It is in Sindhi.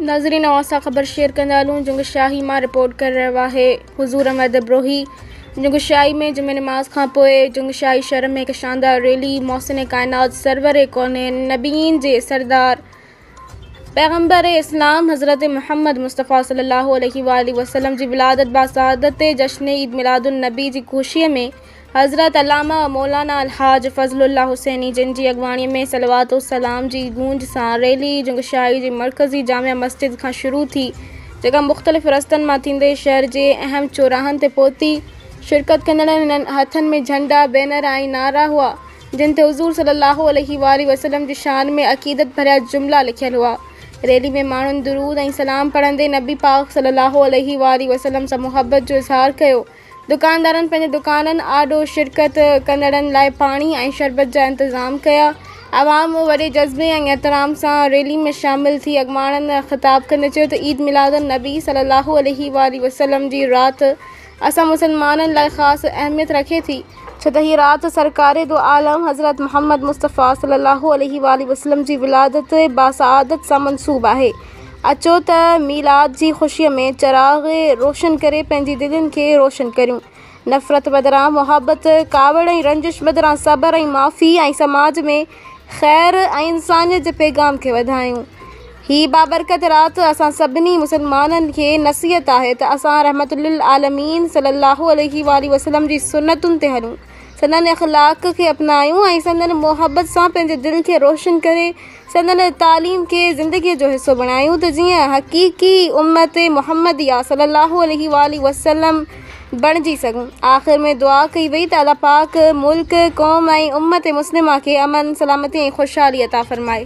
ناظرين اوهان سان خبر شيئر ڪندا هلون جنگ شاهي مان رپورٽ ڪري رهيو آهي حضور احمد ابروهي جنگ شاهي ۾ جمعي نماز کان پوء جنگ شاهي شهر ۾ هڪ شاندار ريلي محسن ڪائنات سرور ڪونين نبيين جي سردار پيغمبر اسلام حضرت محمد مصطفيٰ صلي الله عليه وآله وسلم جي ولادت باسعادت تي جشن عيد ميلاد النبي جي خوشيء ۾ حضرت علامه مولانا الحاج فضل الله حسيني جن جي اڳواڻي ۾ صلوات و سلام جي گونج سان ريلي جنگشاهي جي مرڪزي جامع مسجد کان شروع ٿي جيڪا مختلف رستن مان ٿيندي شهر جي اهم چوراهن تي پهتي. شرڪت ڪندڙن هنن هٿن ۾ جهنڊا، بينر ۽ نعرا هئا جن تي حضور صلي الله عليه واٰله وسلم جي شان ۾ عقيدت ڀريا جملا لکيل هئا. ريلي ۾ ماڻهن درود ۽ سلام پڙهندي نبي پاڪ صلي الله عليه واٰله وسلم سان محبت جو اظهار ڪيو. دڪاندارن پنهنجي دڪانن آڏو شرڪت ڪندڙن لاء پاڻي ۽ شربت جا انتظام ڪيا. عوام وڏي جذبي ۽ احترام سان ريلي ۾ شامل ٿي اڳواڻن خطاب ڪندي چيو ته عيد ميلاد النبي صلي الله عليه واٰله وسلم جي رات اسان مسلمانن لاء خاص اهميت رکي ٿي، ڇو ته هيء رات سرڪار دو عالم حضرت محمد مصطفيٰ صلي الله عليه واٰله وسلم جي ولادت باسعادت سان منسوب آهي. اچو ته ميلاد جي خوشيء ۾ چراغ روشن ڪري پنهنجي دلين کي روشن ڪريون. نفرت بدران محبت، ڪاوڙ ۽ رنجش بدران صبر ۽ معافي ۽ سماج ۾ خير ۽ انسانيت جي پيغام کي وڌايون. هي بابرڪت رات اسان سڀني مسلمانن کي نصيحت آهي ته اسان رحمت للعالمين صلّي اللّٰه عليه واٰله وسلّم جي سنّتن تي هلون، سندن اخلاق کي اپنايون ۽ سندن محبت سان پنهنجي دل کي روشن ڪري سندن تعليم کي زندگيء جو حصو بڻايون ته جيئن حقيقي امّت محمّديه صلّي اللّٰه عليه واٰله وسلّم بڻجي سگهون. آخر ۾ دعا ڪئي وئي ته الله پاڪ ملڪ، قوم ۽ امّت مسلمه کي امن، سلامتي ۽ خوشحالي عطا فرمائي.